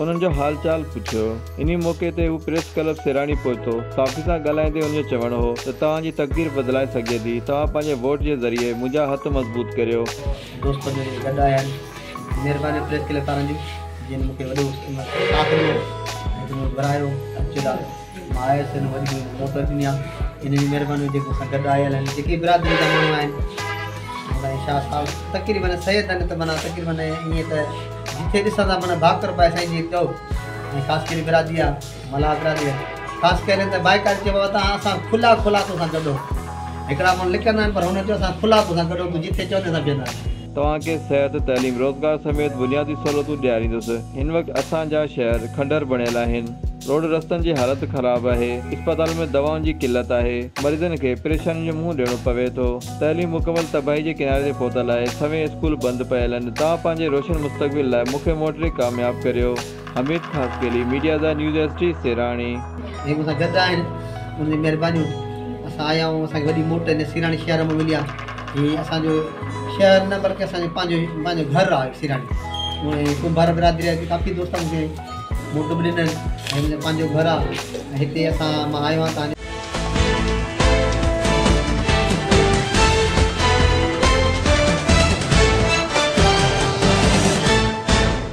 انهن جو حال چال پڇيو. انهي موقعي تي هو پريس ڪلب سيراڻي پهتو. صحافين سان ڳالهائيندي هن جو چوڻ هو ته توهان جي تقدير بدلائي سگهجي ٿي، توهان پنهنجي ووٽ جي ذريعي منهنجا هٿ مضبوط ڪريو. دوست جو جيڪي گڏ آيا آهن. مهربانيون پريس ڪلب وارن جون جن مون کي وڏو ساٿ ڏنو ۽ جن مون کي گهرايو اچ لاڏو. آء ايس هن وڏي ڀيڻ کي موت ڏني آ هن جي مهرباني هجي مون سان گڏ آيل هن جيڪي برادري جا ماڻهو آهن سائين شاهه صاحب تقريبن سيد هن ته معنيٰ تقريبن ائين ته جتي ڏسان ٿا معنيٰ ڀاڪر پائي سائين جي چئو ۽ خاص ڪري برادري آ ملاح برادري آ خاص ڪري ته بائڪار چئبو آ ته اسان کلا کلا تو سان گڏ هڪڙا ماڻهو لڪندا آهن پر هن چئو اسان کلا تو سان گڏ هو تو جتي چوندي اسان بيهندا آهيون توهان کي صحت، تعليم، روزگار سميت بنيادي سهولتون ڏياريندس. هن وقت اسان جا شهر کنڊر بڻيل آهن، روڊ رستن جي حالت خراب آهي، اسپتالن ۾ دوائن جي قلت آهي، مريضن کي پريشانين جو منهن ڏيڻو پوي ٿو، تعليم مڪمل تباهي جي ڪناري تي پهتل آهي، سوين اسڪول بند پيل آهن، توهان پنهنجي روشن مستقبل لاء مون کي موٽري ڪامياب ڪريو. حميد خاصخيلي، ميڊيا زا نيوز ايس ڊي، سيراڻي. جي مون سان گڏ آهن انهن جي مهربانيون اسان آيا آهيون اسان کي وڏي موٽ هن سيراڻي شهر مان ملي آهي هي اسان جو شهر نه بلڪه اسان جو پنهنجو پنهنجو گهر آهي سيراڻي ۽ ڪنڀار برادري جا ڪافي دوست مون کي موٽ به ڏنل هي منهنجو پنهنجو گهر آهي هتي اسان مان آيو آهيان تهنجي